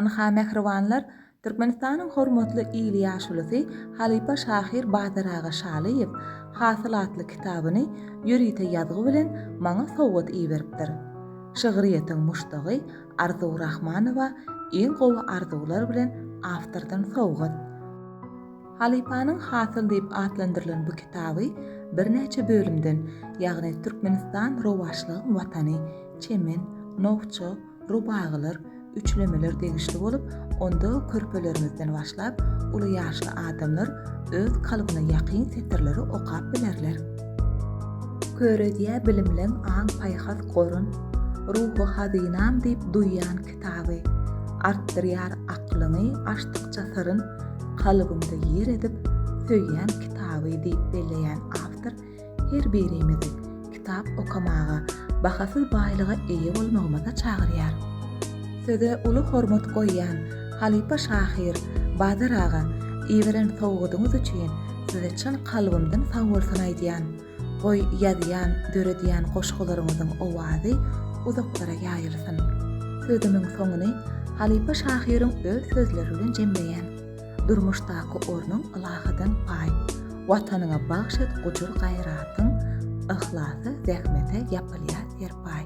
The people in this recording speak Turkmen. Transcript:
Ynha, mähribanlar, Türkmenistanyň hormatly il ýaşulusy halypa şahyr Badar aga Şalyýew Hasyl atly kitabyny ýörite ýazgy bilen maňa sowgat iberipdir. Şygryýetiň muşdagy Arzuw Rahmanowa iň gowy arzuwlar bilen awtordan sowgat. Halypanyň Hasyl diýip atlandyrylan bu kitaby birnäçe bölümden, ýagny Türkmenistan rowaçlygyň watany, Çemen, Nowça, rubagylar, üçlemeler degişli bolup, onda körpeleriňizden başlap, uly ýaşly adamlar öz kalbyna ýakyn setirleri okap bilerler. Köredýä bilimleň aň-paýhas gorun, Ruhy hazynam diýip duýýan kitaby. Artdyrýar aklyňy açdykça syryn, Kalbyňda ýer edip, söýýän kitaby diýip belleýän awtor Her birimizi kitap okamaga, bahasyz baýlyga eýe bolmagymyza çagyrýar. Söze uly hormat goýýan halypa şahyr Bazar aga, iberen sowgadyňyz üçin size çyn kalbymdan sag bolsun aýdýan. Goý ýazýan, döredýän goşgularyňyzyň owazy uzaklara ýaýylsyn. Sözümiň soňuny halypa şahyryň öz sözleri bilen jemleýän. Durmuşdaky ornuň ylahydan paý, Watanyňa bagş et gujur-gaýratyň, Yhlasa, zähmete ýapylýar serpaý.